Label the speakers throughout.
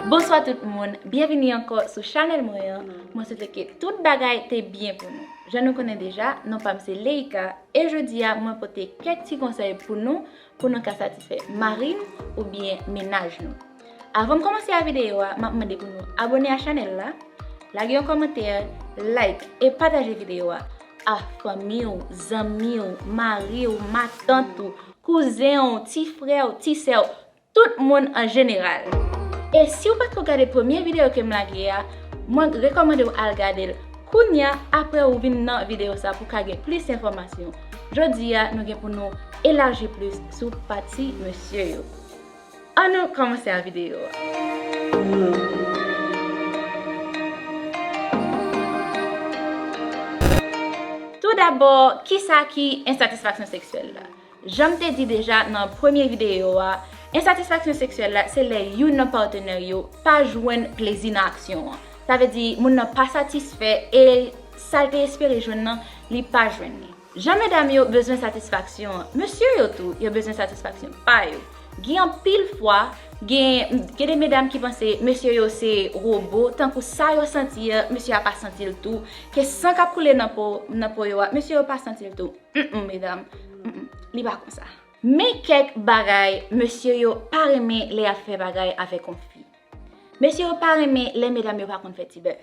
Speaker 1: Bonswa tout moun, byenvini ankò sou chanèl mwen an, mwen swete ke tout bagay te byen pou nou. Jan nou konnen deja, non pa m se Leïka, e jodi a mwen pote kèk ti konsèy pou nou, pou nou ka satisfè mari n oubyen mennaj nou. Avan m kòmanse a videyo a, m ap mande pou nou abone a chanèl la, lage yon kòmantè, like e pataje videyo a a fanmi w, zanmi w, mari w, matant ou. kouzen w, ti frè w, ti sè w, tout moun an jeneral. E si w patko gade premye videyo ke m lage a, mwen rekòmande w al gade l kounya aprè ou vin nan videyo sa pou w ka gen plis enfòmasyon. Jodi a nou gen pou nou elaji plis sou pati mesye yo. An nou kòmanse a videyo a. Tou dabò, kisa ki ensatisfaksyon seksyèl la? Janm te di deja nan premye videyo a, ensatisfaksyon seksyèl la se lè youn nan patenè yo pa jwenn plezi nan aksyon an. Sa vle di moun nan pa satisfè e sa l te espere jwenn nan li pa jwenn li. Jan medam yo bezwen satisfaksyon, mesye yo tou yo bezwen satisfaksyon pa yo. Gen anpil fwa, gen de medam ki panse mesye yo se robo, tankou sa yo santi an, mesye a pa santi l tou, ke san k ap koule nan po yo a, mesye yo pa santi l tou. Mmm medam, mmm, li pa konsa. Men kèk bagay mesye yo pa renmen lè y ap fè bagay avèk yon fi. Mesye yo pa renmen lè medam yo pa konn fè ti bèf.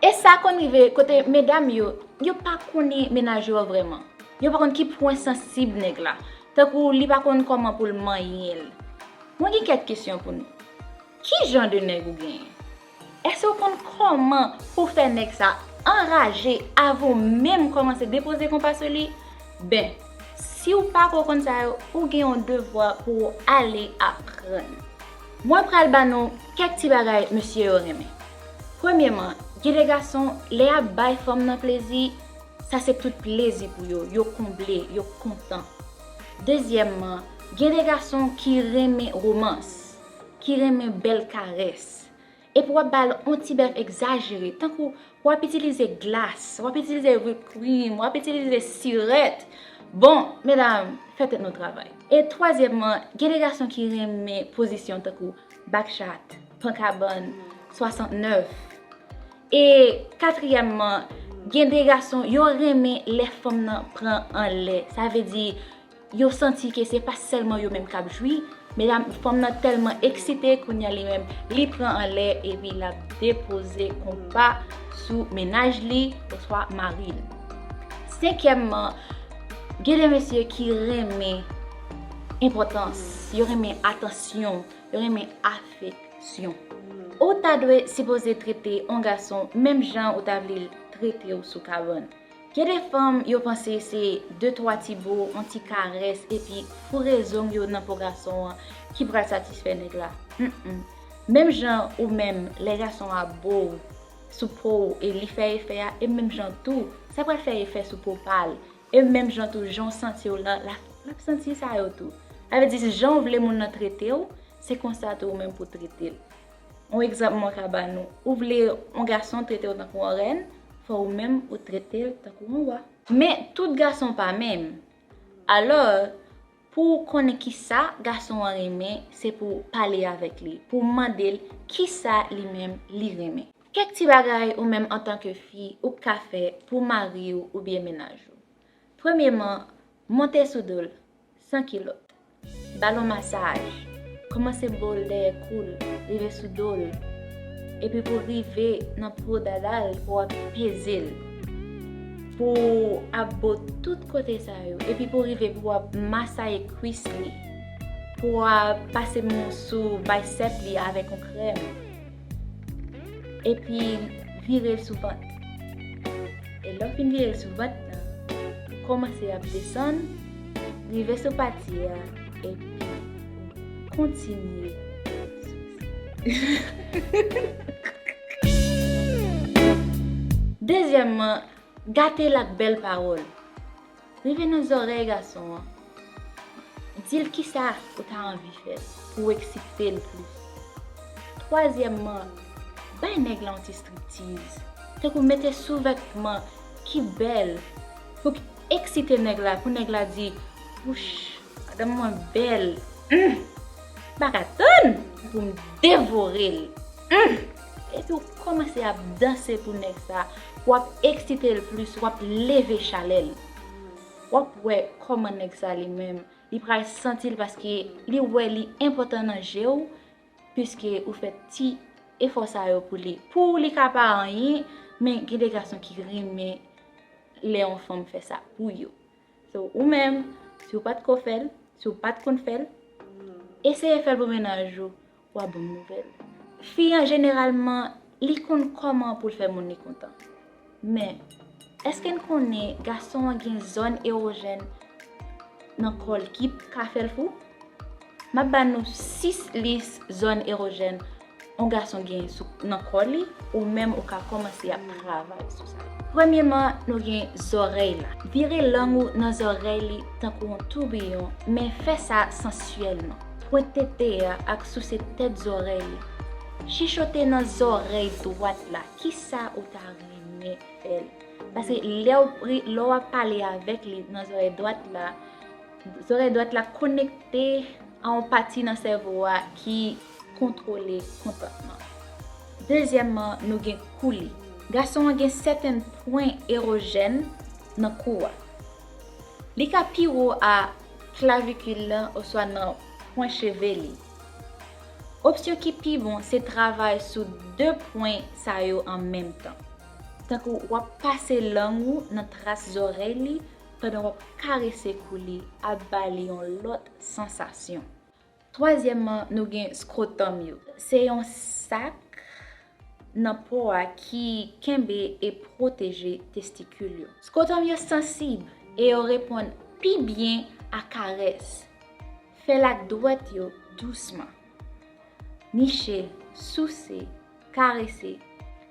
Speaker 1: E sa konn rive kote medam yo, yo pa konnen menaj yo an vrèman. Yo pa konn ki pwen sansib nèg la. Tankou li pa konn kòman pou l manyen l. Mwen gen kèk kesyon pou nou. Ki jan de nèg ou genyen? Èske ou konn kòman pou w fè nèg sa anraje avan w menm kòmanse depoze konpa sou li? Ben, si w pa ko konn sa yo, ou gen yon devwa pou w ale aprann. Mwen pral ba nou kèk ti bagay mesye yo renmen. Premyeman, gen de gason, lè yap bay fanm nan plezi, sa se tout plezi pou yo, yo konble, yo kontan. Dezyèmman, gen de gason ki renmen romans, ki renmen bèl karès. Epi wap ba l on ti bèf egzajere, tankou wap itilize glas, wap itilize whipped cream, wap itilize sirèt. Bon, medam, fè tèt nou travay. E twazyèmman, gen de gason ki renmen pozisyon tankou back chat. Pankabann 69 E katriyèmman, gen de gason yo renmen lè fanm nan pran anlè. Sa vle di, yo santi ke se pa sèlman yo menm k ap jwi, medam, fanm nan tèlman eksite kounye a li menm li pran anlè epi l ap depoze konpa sou mennaj li oswa mari l. Senkyèmman, gen de mesye ki renmen enpòtans, yo renmen atansyon renmen afeksyon. Ou ta dwe sipoze trete yon gason menm jan ou ta vle l trete w sou kabann. Gen de fanm yo panse se de twa ti bo, yon ti karès epi foure zong yo nan po gason an ki pral satisfè nèg la. Humm. Menm jan ou menm lè gason a bo w sou po w e li fè efè a, e menm jan tou sa pral fè efè sou po pa l E menm jan tou, jan w santi w lan, l ap santi sa yo tou. Sa vle di, jan w vle moun nan trete w, se konsa tou ou menm pou w trete l. Yon egzanp mwen ka ba nou, ou vle yon gason trete w tankou yon rèn, fò ou menm ou trete l tankou yon wa. Men, tout gason pa menm. Alò, pou w konnen ki sa gason an renmen, se pou w pale avèk li, pou w mande l ki sa li menm li renmen. Kèk ti bagay ou menm antanke fi ou p ka fè pou mari w oubyen mennaj ou. Premyeman, monte sou do l, san kilòt. Ba l on masaj. Kòmanse bo l dèyè kou l, rive sou do l, epi pou rive nan pi wo dada l pou w ap peze l. Pou w ap bo tout kote sa yo, epi pou rive pou w ap masaye kwis li. Pou w ap pase mou sou baysèp li avèk on krèm. Epi vire l sou vant. E lè w fin vire l sou vant nan, ou kòmanse ap desann, rive sou pati a, epi ou kontinye sou. Dezyèmman, gate l ak bèl pawòl. Rive nan zòrèy gason an, di l kisa ou ta anvi fè pou w eksite l plis. Twazyèmman, bay nèg la yon ti striptiz, tankou mete souvètman ki bèl pou k eksite nèg la, pou nèg la di, Wouch, madanm mwen bèl, m pa ka tann pou m devore l. Epi w kòmanse ap danse pou nèg sa, w ap eksite l plis, w ap leve chalè l. W ap wè kòman nèg sa li menm, li pral santi l paske li wè li enpòtan nan je w, piske ou fè ti efò sa yo pou li. Pou ou li ka pa anyen, men gen de gason ki renmen lè yon fanm fè sa pou yo. So, ou menm, si w pa t ko fè l, si w pa t konn fè l, eseye fè l pou mennaj ou. Wa bon nouvel. Fi an jeneralman li konn koman poul fè moun li kontan. Men eske n konnen gason an gen zòn erojèn nan kòl ki ka fèl fou? Map ba nou 6 lis zòn erojèn on gason gen nan kò li ou menm ou ka komanse ap travay sou sa. Premyeman nou gen zòrèy la. Vire lang ou nan zòrèy li tankou on toubiyon men fè sa sansyèlman. Pwent tete a ak souse tèt zòrèy li. Chichote nan zòrèy dwat la kisa ou ta renmen fè l. Paske lè w ap pale avèk li nan zòrèy dwat la, zòrèy dwat la konekte a yon pati nan sèvo a ki kontwole kontantman. Dezyèmman, nou gen kou li. Gason an gen sèten pwen erojèn nan kou a. Li ka pi wo a. klavikil lan oswa nan pwen cheve li. Opsyon ki pi bon se travay sou 2 pwen sa yo an menm tan. Tankou w ap pase lang ou nan tras zòrèy li pandan w ap karese kou li ap ba li yon lòt sansasyon. Twazyèmman, nou gen scrotum yo. Se yon sak nan po a ki kenbe e pwoteje testikil yo. Scrotum yo sansib e yo reponn pi byen a karès. Fè l ak dwèt yo dousman. Niche, souse. Karese,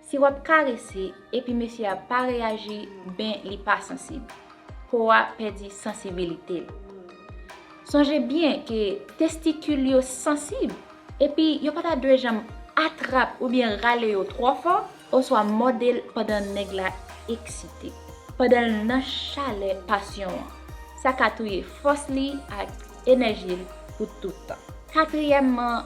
Speaker 1: Si wap karese epi mesye a pa reyaji ben li pa sansib. Po a pèdi sansibilite l. Sonje byen ke testikil yo sansib epi yo pa ta dwe janm atrap oubyen rale yo twò fò oswa mòde l pandan nèg la eksite, pandan l nan chalè pasyon an. Sa ka touye fòs li ak enèji l pou tout tan. Katriyèmman,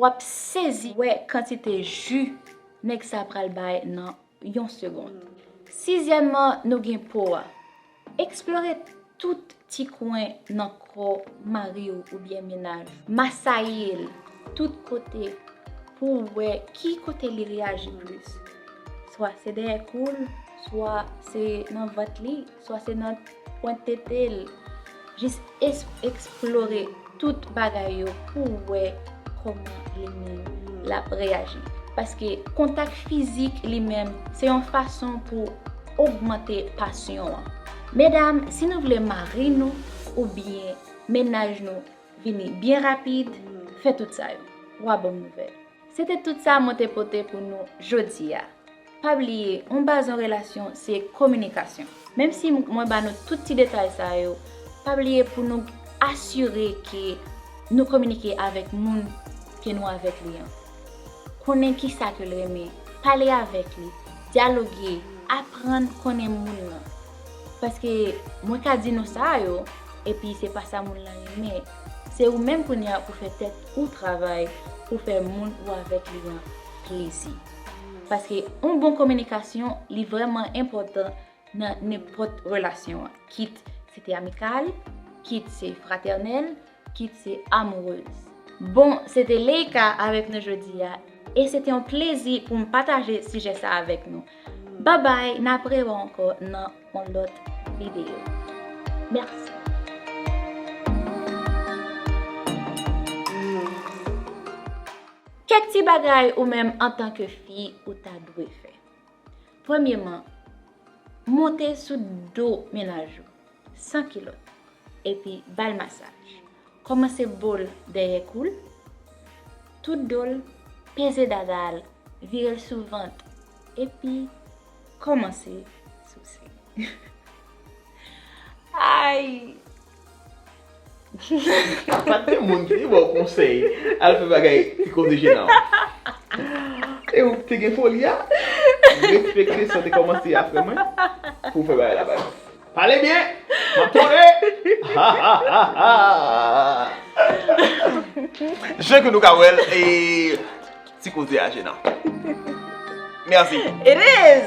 Speaker 1: Wap sezi wè kantite ju nèg sa pral bay nan yon segond. Sizyèmman nou gen po a. Eksplore tout ti kwen nan kò mari w oubyen menaj ou. Masaye l tout kote pou w wè ki kote li reyaji plis. Swa se dèyè kou l, swa se nan vant li. Swa se nan pwent tete l. Jis eksplore tout bagay yo pou w wè kòman li menm l ap reyaji. Paske kontak fizik li menm se yon fason pou ogmante pasyon an. Medam, si nou vle mari nou oubyen mennaj nou vini byen rapid, fè tout sa yo. Wa bon nouvèl. Se te tout sa mwen te pote pou nou jodi a. Pa bliye, yon baz yon relasyon se kominikasyon. Menm si mwen ba nou tout ti detay sa yo, pa bliye pou nou asire ke nou kominike avèk moun ke nou avèk li an. Konnen ki sa ke l renmen, pale avèk li, dyaloge, aprann konnen moun lan. Paske mwen ka di nou sa yo, epi se pa sa moun lan renmen. Se ou menm kounye a pou fè tèt ou travay pou fè moun ou avèk li an plezi. Paske yon bon kominikasyon li vrèman enpòtan nan nenpòt relasyon an. Kit se te amikal, kit se fratènèl, kit se amourez. Bon, se te Leïka avèk nou jodi a. E se te yon plezi pou m pataje sijè sa avèk nou. Bye bye nap re wè ankò nan yon lòt video merci. Kèk ti bagay ou menm antan ke fi ou ta dwe fè. Premyeman, monte sou do mennaj ou san kilòt epi bal masaj. Kòmanse bo l dèyè kou l, tout do l, peze dada a l, vire l sou vant, epi kòmanse souse. Ayy!
Speaker 2: Pa gen moun ki te ba w konsèy al fè bagay ki koze jenan w. E ou te gen foli a? Respekte sa w te kòmanse a frè mwen pou w fè bagay la bay. Pale byen! Map tande! Jan ke nou ka wèl e ti koze a jenan. Merci.
Speaker 1: It is!